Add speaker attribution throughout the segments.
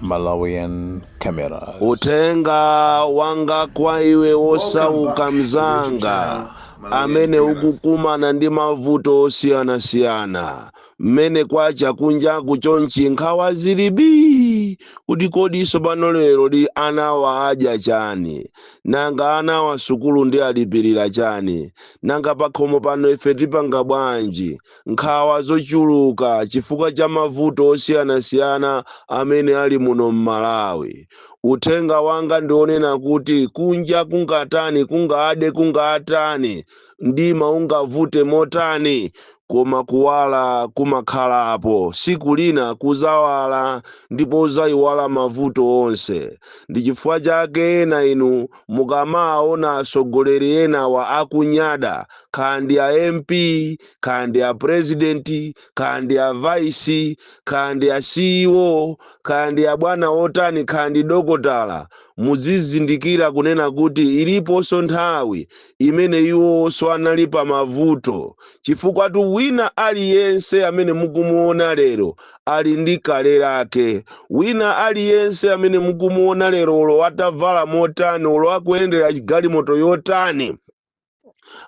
Speaker 1: Malawian Cameras.
Speaker 2: Uthenga wanga kwa iwe wosauka mzanga amene ukukumana ndi mavuto osiyanasiyana, mmene kwacha kunjaku chonchi nkhawa zili bii kuti kodi sopano leroli anawa adya chani? Nanga anawa sukulu ndiwalipirira chani? Nanga pakhomo pano ife tipanga bwanji? nkhawa zochuluka chifukwa cha mavuto osiyanasiyana amene ali muno m'Malawi. Uthenga wanga ndi wonena kuti kunja kungatani, kungade kungatani, mdima ungavute motani, koma kuwala kumakhalapo. Tsiku lina kuzawala ndipo uzayiwala mavuto onse. Ndi chifukwa chake ena inu mukamaona atsogoleri enawa akunyada, kaya ndi a mp kaya ndi a president kaya ndi a vice kaya ndi a ceo kaya ndi a bwana otani kaya ndi dokotala muzizindikira kunena kuti iliponso nthawi imene iwonso anali pa mavuto chifukwatu wina aliyense amene mukumuona lero ali ndi kale lake wina aliyense amene mukumuona lero olo atavala motani olo akuyendera galimoto yotani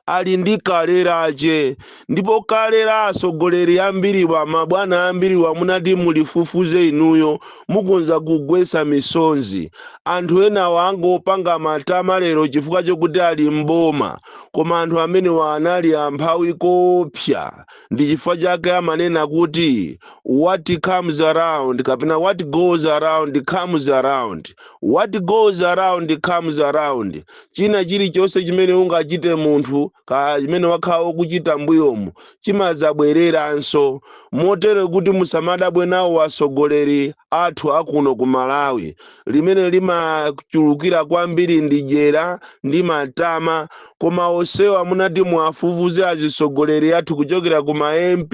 Speaker 2: ali ndi kale lache ndipo kale la atsogoleri ambiriwa mabwana ambiriwa mutati mulifufuze inuyo mukhonza kugwetsa misozi anthu enawa angopanga matama lero chifukwa chokuti ali m'boma koma anthu amenewa anali amphawi koopsa ndi chifukwa chake amanena kuti what comes around kapena what goes around comes around what goes around comes around China chilichonse chimene ungachite munthu, kaya chimene wakhala ukuchita mbuyomu, chimadzabwereranso. Motero kuti musamadabwe nawo atsogoleri athu a kuno ku Malawi. Limene limachulukira kwambiri ndi dyera ndi matama. Koma onsewa mutati muwafufuze azitsogoleri athu kuchokera ku ma MP,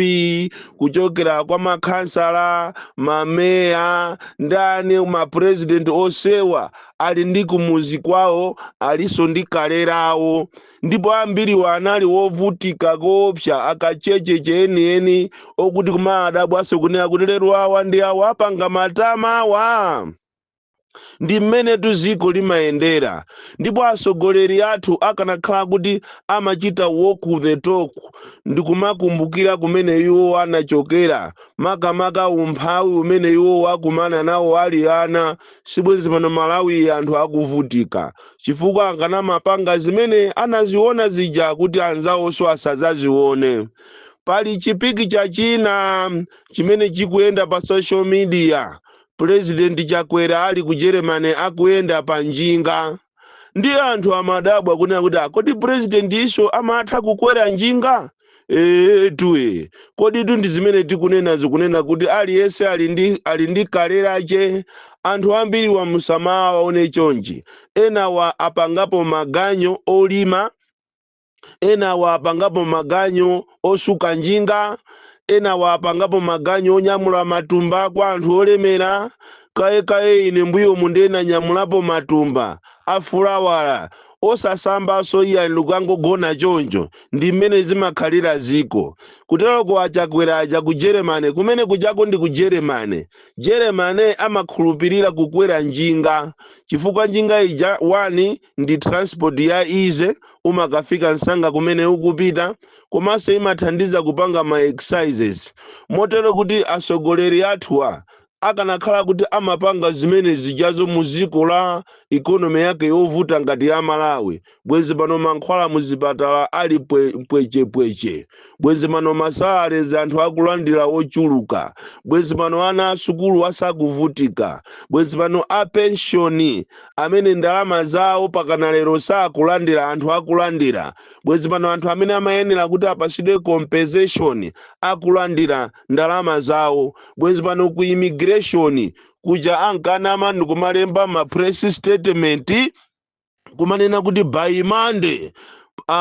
Speaker 2: kuchokera kwa makhansala, mameya, ndani, ma president onsewa. ali ndi kumudzi kwawo alinso ndi kale lawo ndipo ambiriwa anali wovutika koopsa akachecheche enieni okuti kumaadabwanso kunena kuti lero awa ndi awa akupanga matama awa ndi mmenetu dziko limayendera ndipo atsogoleri athu akanakhala kuti amachita walk the talk ndikumakumbukira kumene iwo anachokera makamaka umphawi umene iwo akumana nawo ali ana sibwenzi pano Malawi anthu akuvutika chifukwa akanamapanga zimene anaziona zija kuti anzawonso asazazione. Pali chi picture china chimene chikuyenda pa social media, President Chakwera ali ku Germany akuyenda pa njinga. ndiye anthu amadabwa kunena kuti "Ah, kodi purezidentiso amatha kukwera njinga eetu ee koditu ndi zimene tikunena zikunena kuti aliyense ali ndi ali ndi kale lache anthu ambiriwa musamawaone chonchi enawa apangapo maganyu olima enawa apangapo maganyu osuka njinga, enawa apangapo maganyu onyamula matumba kwa anthu olemera, kaye kaye ine mbuyomu nde nanyamulapo matumba a fulawa osasambaso iyayi ndikukangogona choncho ndimmene zimakhalira ziko kuteroko a Chakwera aja ku Germany kumene kujako ndiku Germany, Germany amakhulupilira kukwera njinga chifukwa njinga ija 1. ndi transport ya easy umakafika nsanga kumene ukupita komanso imathandiza kupanga ma exercises motero kuti asogoleri athuwa akanakhala kuti amapanga zimene zijazo mu dziko la economy yake yovuta ngati ya Malawi bwezi pano mankhwala muzipatala ali pwe, pwechepweche bwezi pano masalalezi anthu akulandira ochuluka bwezi pano ana asukulu asakuvutika bwezi pano apenshoni amene ndalama zawo pakana lero sakulandira anthu akulandira bwezi pano anthu amene amayenera kuti apasidwe compensation akulandira ndalama zawo bwezi pano ku immigration kuja ankanama ndikumalemba ma press statement kumanena kuti by monday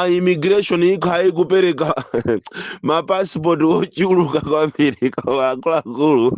Speaker 2: immigration ikhala ikupereka mapasipoti ochuluka kwambiri koma akuluakulu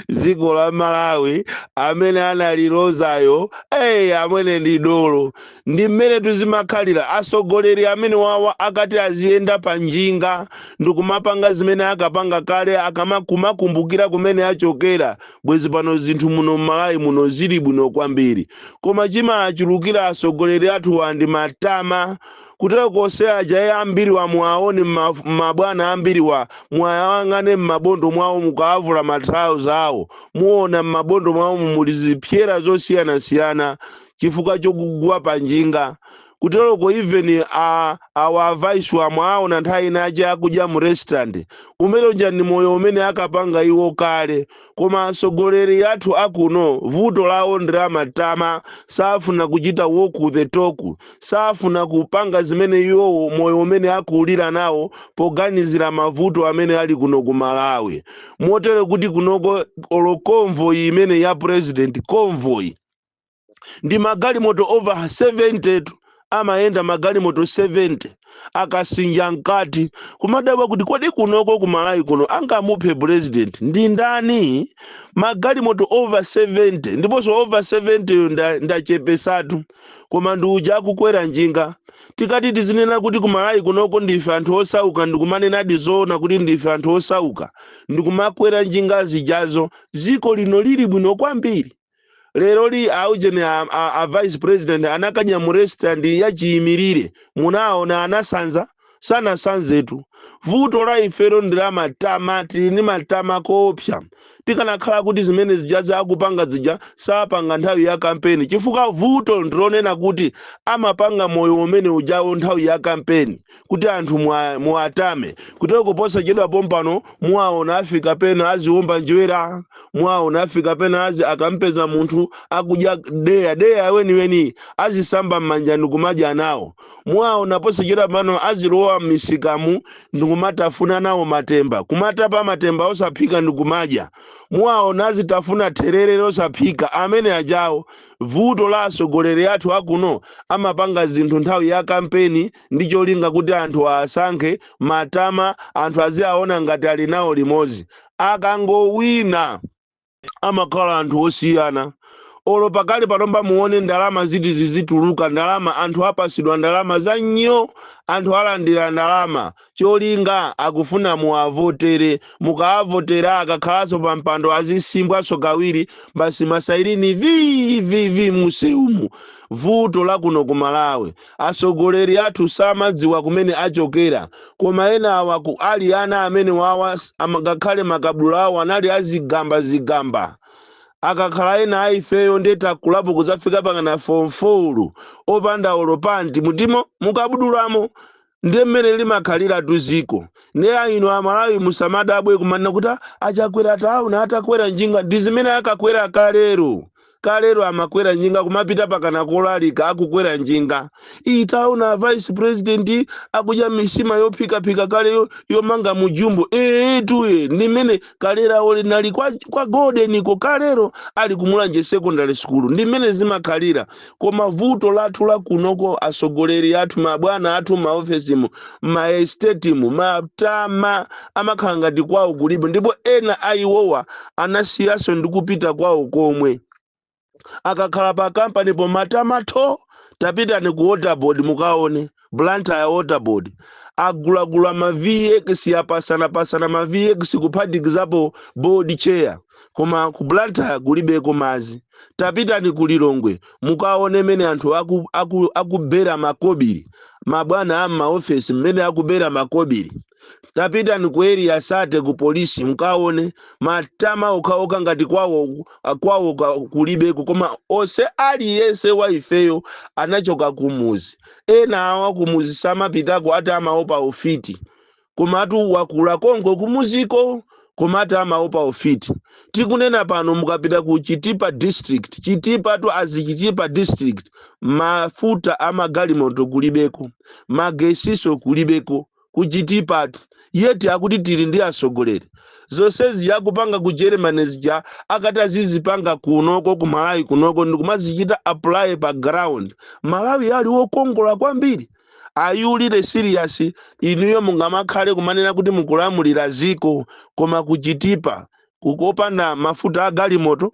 Speaker 2: dziko la malawi amene analilozayo eyi amwene ndi dolo ndi mmene tizimakhalira atsogoleri amene wawa akati aziyenda pa njinga ndikumapanga zimene akapanga kale akamakumakumbukira kumene achokera bwezi pano zinthu muno mmalawi muno zili bwino kwambiri koma chimachulukira atsogoleri athuwa ndi matama kuteroko onse aja ee ambiriwa muwaone mmaf- mabwana ambiriwa muwayang'ane mmabondo mwawo mukawavula matrauza awo muona mmabondo mwawo muli zipsera zosiyanasiyana chifukwa chokugwa panjinga kuteroko even a awa a vice wa mwawaona nthawi ina ija akudya mu restaurant umene uja ndi moyo umene akapanga iwo kale koma atsogoleri athu akuno vuto lawo ndi la matama safuna kuchita walk the talk safuna kupanga zimene iwowo moyo umene akulira nawo poganizira mavuto amene ali kuno ku malawi motere kuti kunoko olo convoy imene ya president convoy ndi magalimoto over 70 tu amayenda magalimoto 70 akasinja mkati kumadabwa kuti kodi kunoko ku malawi kuno angamuphe president ndi ndani magalimoto over 70 ndiponso over 70 yo nda- ndachepesatu koma ndi uja akukwera njinga tikati tizinena kuti ku malawi kunoko ndife anthu osauka ndikumanenadi zoona kuti ndife anthu osauka ndikumakwera njinga zijazo dziko lino lili bwino kwambiri leroli aujeni a, a, a vice president anakadya mu restaurant yachiyimirire munaona anasanza sanasanzetu vuto la ifero ndi la matama tili ndi matama koopsa tikanakhala kuti zimene zijazo akupanga zija sapanga nthawi ya kampeni chifukwa vuto ndilonena kuti amapanga moyo umene ujawo nthawi ya kampeni kuti anthu mwa- muwatame kuteroko posachedwa pompano muwaona afika pena aziwomba njerwa muwaona afika pena azi akampeza munthu akudya deya deya weniweni azisamba m'manja ndikumadya nawo muwaona posachedwa pano azilowa m'misikamu ndikumatafuna nawo matemba kumatapa matemba osaphika ndikumadya muwaona azitafuna therere losaphika amene ajawo vuto la atsogoleri athu akuno amapanga zinthu nthawi ya kampeni ndi cholinga kuti anthu aasankhe, matama, anthu aziaona ngati ali nawo limodzi. Akangowina amakhala anthu osiyana. Olo pakali panopa muone ndalama ziti zizituluka, ndalama, anthu apasidwa ndalama za nyo, anthu alandira ndalama. Cholinga akufuna muwavotere. Mukaavotera akakhalaso pa mpando azisimbwaso kawiri, basi masayilini vii vii vii mmusewumu. Vuto la kuno ku Malawi. Atsogoleri athu samadziwa kumene achokera koma enawa ali ana amenewawa ngakhale makabudula awo anali a zigamba zigamba akakhala ena a ifeyo nde takulapo kudzafika pakana form 4 opanda olo pant mutimo mukabudulamo nde mmene limakhaliratu dziko nde inu amalawi musamadabwe kumanena kuti a chakwera taona atakwera njinga ndizimene akakwera kalero kalero amakwera njinga kumapita pakana kolalika akukwera njinga iyi taona a vice president akudya nsima yophikaphika kale yo- yomanga mujumbo ee tuye ndi mmene kalero olo linali kwa, kwa goldeniko kalero ali kumulanje secondary school ndi mmene zimakhalira koma vuto lathu lakunoko atsogoleri athu mabwana athu maofesimu maestetimu matama amakhala ngati kwawo kulibe ndipo ena a iwowa anasiyaso ndikupita kwawo komwe akakhala pa company po matama tho tapitani ku waterboard mukaone blantyre waterboard agulagula ma vx apatsanapatsana ma vx kuphatikizapo board chair koma ku blantyre kulibeko mazi tapitani ku lilongwe mukaone mene anthu aku, aku, akubera makobiri mabwana a m'maofesi mmene akubera makobiri tapitani ku area 30 ku polisi mkaone matama okhaokha ngati kwawo kwawo ka- kulibeko koma ose aliyense wa ifeyo anachoka kumuzi ena awa kumuzi samapitako ati amaopa ufiti komatu wakula konko kumuziko koma ati amaopa ufiti tikunena pano mukapita ku chitipa district chitipa tu azi chitipa district mafuta amagalimoto kulibeko magesiso kulibeko ku chitipa yet akuti tili ndi atsogoleri zonse zija akupanga ku germany zija akati azizipanga kunoko ku malawi kunoko ndikumazichita apply pa ground malawi ali wokongola kwambiri are you really serious inuyo mungamakhale kumanena kuti mukulamulira ziko koma kuchitipa kukopanda mafuta a galimoto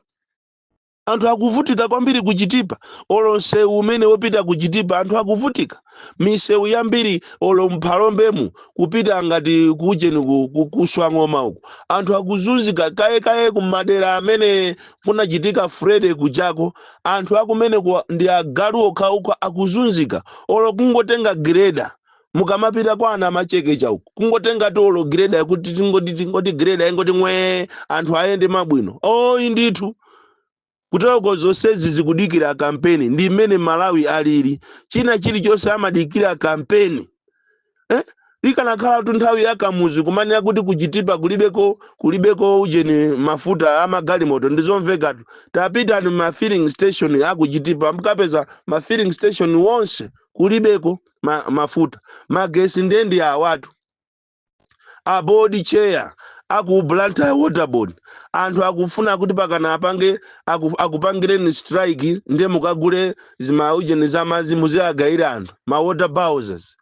Speaker 2: Anthu akuvutika kwambiri ku Chitipa olo msewu umene wopita ku Chitipa anthu akuvutika. Misewu yambiri olo m'Phalombemu kupita ngati ku ujeni ku, ku, ku Swang'oma uku anthu akuzunzika kaye kaye ku madera amene kunachitika Freddy kujako anthu akumeneko ndi agalu okhaokha akuzunzika olo kungotenga gireda mukamapita kwa a Namachekecha uku kungotenga olo greda yakuti tingoti tingoti greda ingoti ng'wee anthu ayende bwino ayi ndithu kuteroko zonsezi zikudikira kampeni ndi mmene malawi alili china chilichonse amadikira kampeni eh? ikanakhala tu nthawi ya kamuzi kumanena kuti kuchitipa kulibeko kulibeko ujeni mafuta amagalimoto ndizomvekatu tapitani ma filling station akuchitipa mukapeza ma filling station onse kulibeko ma, mafuta magesi ndiye ndi awatu a board chair a ku Blantyre water board anthu akufuna kuti pakana apange aku- akupangireni strike ndiye mukagule zimaujeni za madzi muziagayira anthu ma water bowsers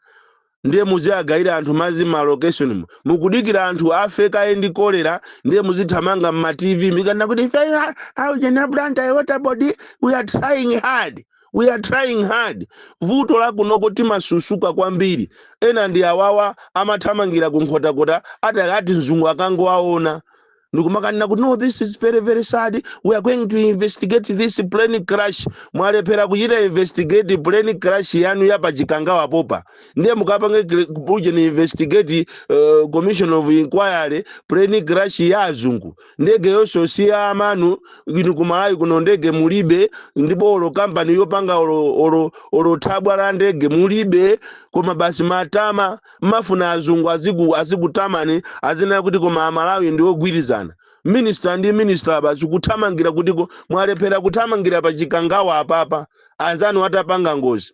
Speaker 2: ndiye muziagayira anthu madzi ma location mu mukudikira anthu afe kaye ndi kolera ndiye muzithamanga mma tv mukanena kuti ife aujeni a Blantyre water board we are trying hard we are trying hard vuto la kunoko timasusuka kwambiri ena ndi awawa amathamangira ku nkhotakota ati ati mzungu akangowaona ndikumakanena kuti no this is very very sad we are going to investigate this plane crash mwalephera kuchita investigate plane crash yanu ya pachikangawa popa ndiye mukapange ujeni investigate uh, commission of inquiry plane crash ya azungu ndege yonso si ya amayi anu inu ku malawi kuno ndege mulibe ndipo olo kampani yopanga olo, olo, olo thabwa la ndege mulibe koma basi matama mmafuna azungu aziku azikutamani azinena kuti koma amalawi ndi ogwirizana minista ndi minista basi kuthamangira kuti ko- mwalephera kuthamangira pa chikangawa apapa anzanu atapanga ngozi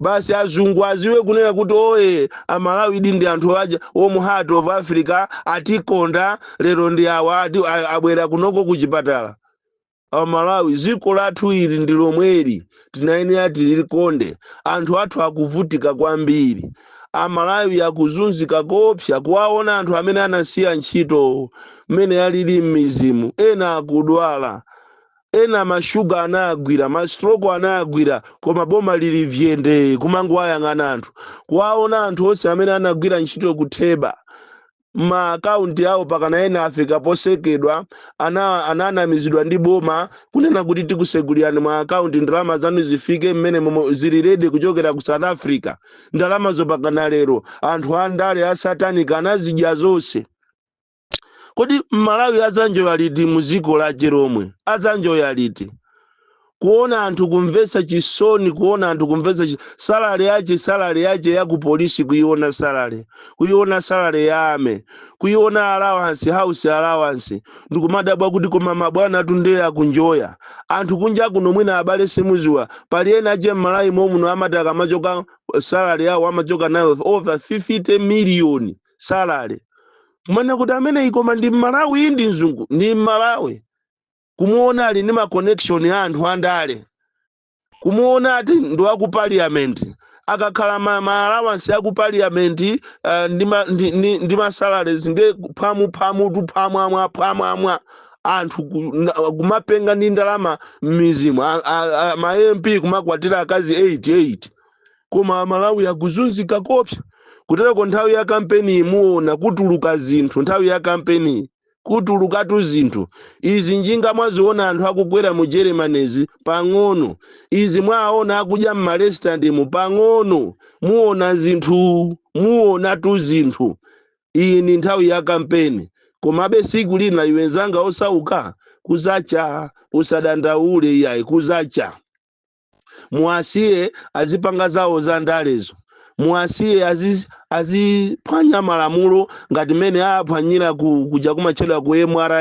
Speaker 2: basi azungu aziwe kunena kuti oye amalawi di ndi anthu aja warm heart of africa atikonda lero ndi awa a- abwera kunoko ku chipatala amalawi dziko lathu ili ndi lomweli tinayenera tilikonde anthu athu akuvutika kwambiri amalawi akuzunzika koopsa kuwaona anthu amene anasiya ntchito mmene alili m'mizimu ena akudwala Ena ma sugar anawagwira, ma stroke anawagwira koma boma lili vyendee kumangowayang'ana anthu. Kuwaona anthu onse amene anagwira ntchito ku theba ma account awo pakana ena afika posekedwa ana ananamizidwa ndi boma kunena kuti tikusegulirani ma account ndalama zanu zifike mmene momwe zili ready kuchokera ku South Africa. Ndalamazo pakana lero anthu andale a satanic anazidya zonse. kodi mmalawi adzanjoya liti muziko lache lomwe adzanjoya liti kuona anthu kumvetsa chisoni kuona anthu kumvetsa chi- salary yache salary yache ya ku polisi kuiona salary kuiona salary ya army kuiona allowance house allowance ndikumadabwa kuti koma mabwana atu ndiye akunjoya anthu kunja kuno mwina abale simuziwa pali ena ache m'malawi momuno amati akamachoka salary yawo amachoka nayo over 50 million salary kumanena kuti ameneyi koma ndi mmalawi iyi ndi mzungu ndi mmalawi kumuona ali ndi ma connection ya anthu andale kumuona ati ndi wa ku parliament akakhala ma, ma allowance ya ku parliament uh, ndi ma, ndi, ndi, ndi ma salaries ndi phamu phamu tu phamu amwa phamu amwa anthu ku- na- kumapenga ndi ndalama m'mizimu A- a- a- ma mp kumakwatira akazi 88 koma amalawi akuzunzika koopsa kutereko nthawi ya kampeniyi muona kutuluka zinthu nthawi ya kampeniyi kutulukatu zinthu izi njinga mwaziona anthu akukwera mu majeremanizi pang'ono izi mwaona akudya mmarestaurantmu pang'ono muona zinthu muonatu zinthu iyi ndi nthawi ya kampeni komabe siku lina iwe nzanga osauka kuzacha usadandaule iyayi kuzacha muwasiye azipanga zawo za ndalezo muwasiye aziz- aziphwanya malamulo ngati mmene aphwanyira ku- kuja kumatchedwa ku mra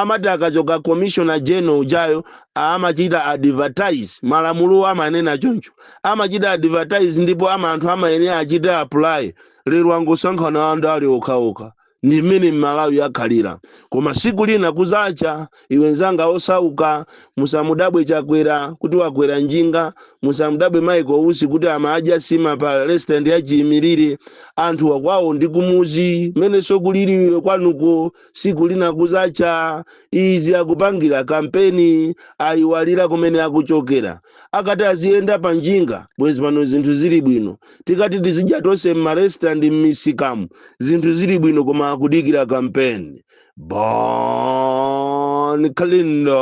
Speaker 2: amati akachoka commissioner general ujayo amachita advertise malamulo amanena choncho amachita advertise ndipo ama- anthu amayenera achite apply lero angosankhana andale okhaokha ndi mmene mmalawi akhalira koma siku lina kuzacha iwe nzanga osauka musamudabwe chakwera kuti wakwera njinga musamudabwe michael usi kuti amadya sima pa restaurant ya chiyimirire anthuwa kwawo ndi kumuzi mmenenso kulili iwe kwanuko siku lina kuzacha izi akupangira kampeni ayiwalira kumene akuchokera akati aziyenda pa njinga bwezi pano zinthu zili bwino tikati tizidya tonse m'marestaurant m'misikamu zinthu zili bwino koma akudikira kampeni bon kalindo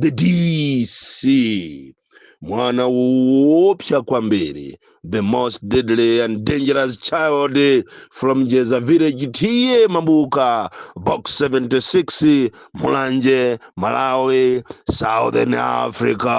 Speaker 2: the dc mwana woopsa kwambiri the most deadly and dangerous child from jeza village tiye mambuka box 76 mulanje malawi southern africa